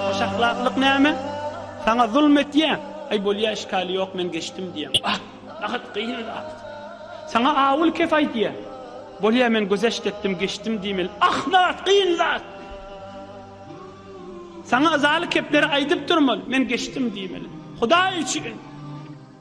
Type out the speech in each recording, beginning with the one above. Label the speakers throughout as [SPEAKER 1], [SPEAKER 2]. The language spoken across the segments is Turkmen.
[SPEAKER 1] Hoşahlaklyk näme? Saňa zulum etýä? Aý, bolýa, işgäli ýok, men geçdim diýeň. Ah, bahat gyn zat. Saňa awul kef aýdýä? Bolýa, men gözeşt etdim, geçdim diýmeli. Ah, bahat gyn zat. Saňa yzaly kepleri aýdyp durmaly, men geçdim diýmeli. Hudaý üçin!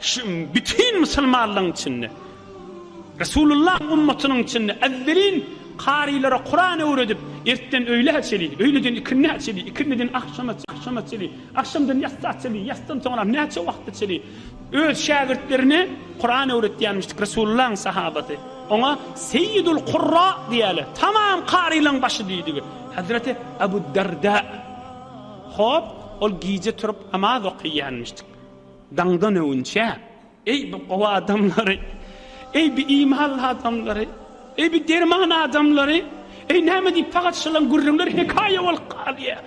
[SPEAKER 1] Şu bütin musulmanlaryň içinde, Resulullahyň ummatynyň içinde ezzelin karylara Kuran öwredip, ertden öýlä çeli, öýleden ikindä çeli, ikindiden agşama, agşama çeli, agşamdan ýatsa çeli, ýatsdan soňra näçe wagtda çeli öz şägirtlerine Kuran öwretýänmişdik Resulullahyň sahabasy. Oňa Seýidul Kurra diýýärler. Tamam karylaryň başy diýdigi. Hezreti Abu Darda. Hop, ol gije turup namaz okaýýanmişdik. Daňdan öwünçä, eý, bi gowy adamlary! Eý, bi imanly adamlary! Eý, bi derman adamlary! Eý, näme diýip pagat şylaň gürrüňleri hekaýa bolup galýar?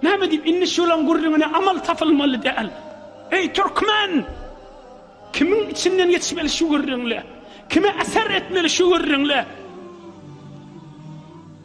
[SPEAKER 1] Näme diýip indi şylaň gürrüňine amal tapylmaly däl? Eý, türkmen! Kimiň içinden geçmeli şu gürrüňler? Kime äser etmeli şu gürrüňler?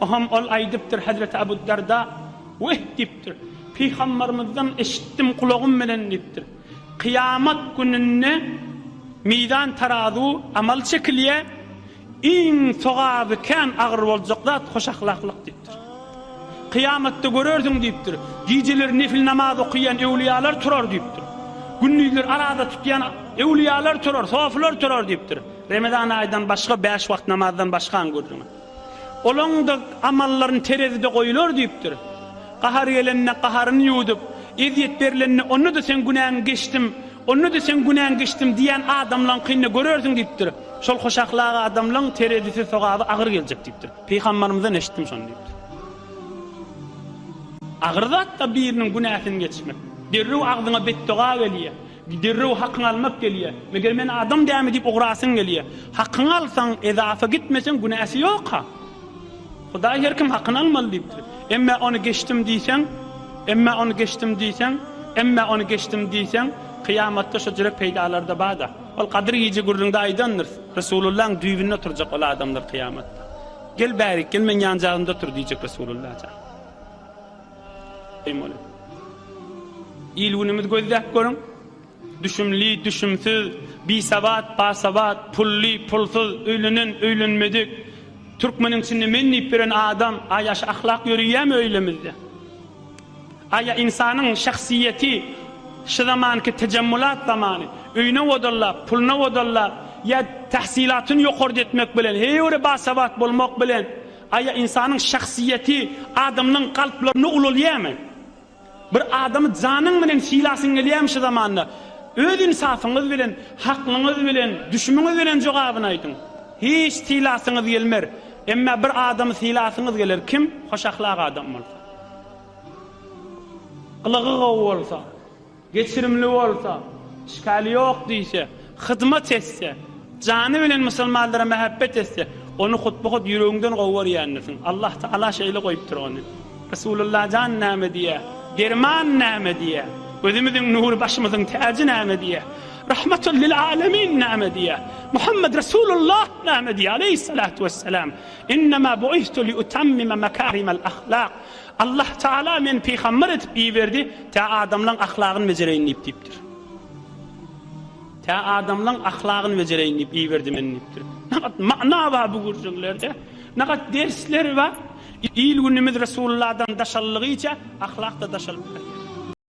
[SPEAKER 1] Aham ol aýdypdyr, Hezreti Abu Darda, Weh! diýipdir, Pygambarymyzdan eşitdim gulagym bilen diýipdir. Kyýamat gününde mizan tarazu, amal çekilýär, iň sogaby kän agyr boljak zat hoşahlaklyk diýipdir. Kyýamatda görersiň diýipdir, gijeler nefil namaz okaýan öwliýalar turar diýipdir. Gündizler araza tutýan öwliýalar turar, sofylar turar diýipdir. Remezan aýdan başga bäş wagt namazdan başgaň gürrüňi. Olaň-da amallaryny terezide goýular diýipdir. Gahary gelende gaharyny ýuwdup, ezýet berilende onda-da seň günäň geçdim, onda-da seň günäň geçdim diýýän adamlaňkyny-da görersiň diýipdir. Şol hoşahlak adamlaň terezisi sogaby agyr geljek diýipdir. Pygambarymyzdan eşitdim şony diýipdir. Agyr zat-da biriniň günäsini geçmek. Derrew agzyňa betdoga gelýär. Derrew hakyňy almak gelýä. Meger men adam dämi diýip ugrasyň gelýä. Hakyňy alsaň, ezafa gitmeseň günäsi ýok-a. Hudaý her kim hakyny almaly diýipdir. Emmä ony geçdim diýseň, emmä ony geçdim diýseň, emmä ony geçdim diýseň, kyýamatda şo jürek peýdalary-da bar-da. Ol Gadyr gije gürrüňde aýdandyr, Resulullaň düýbünde oturjak ol adamlar kyýamatda. Gel bärik, gel meň ýanjagymda otur diýjek Resululla jan. Il-günümiz gözläp görüň, düşümli-düşümsiz, bisabat-basabat, pully-pulsuz, öýlenen-öýlenmedik, türkmeniň içinde men diýip ýören adam, aýaş ahlak ýöreýärmi öýlemizde? Aýa ynsanyň şahsyýeti şu zamanky tejemmulat zamany, öýüne odallap, puluna odallap ýa tahsylatyny ýokarda etmek bilen, heýwere basabat bolmak bilen, Aýa ynsanyň şahsyýeti adamlaryň kalplaryna ulalýamy? Bir adamy janyň bilen sylasyň gelýämi şu zamanda? Öz ynsafyňyz bilen, haklyňyz bilen, düşümiňiz bilen jogabyny aýdyň. Hiç sylasyňyz gelmer. Emma bir adamy sylasyňyz geler, kim? Hoş ahlak adam bolsa. Gylygy gowy bolsa. Geçirimli bolsa, işgali ýok diýse, hyzmat etse, jany bilen musulmanlara mähebbet etse, ony hut-bu-hut ýüregiňden gowy görýändirsiň. Allah Tagala şeýle goýupdyr ony. Resulullah jan näme diýýär? Derman näme diýýär? Gözümiziň nury, başymyzyň täji näme diýýär? Rahmatun lil alemin näme diýýär? Muhammed Resulullah näme diýýär? Aleýhissalatu wessalam, Innema bu'ithtu liutammima makarimal ahlak. Allah Tagala meni pygamber edip iberdi, tä adamlaň ahlagyny bejereýin diýip diýipdir. Tä adamlaň ahlagyny bejereýin diýip iberdi meni diýipdir. Nagat mana bar bu gürjüňlerde. Nagat dersler bar. Il-günümiz Resulullahdan daşallygyça ahlak-da daşalyp barýar.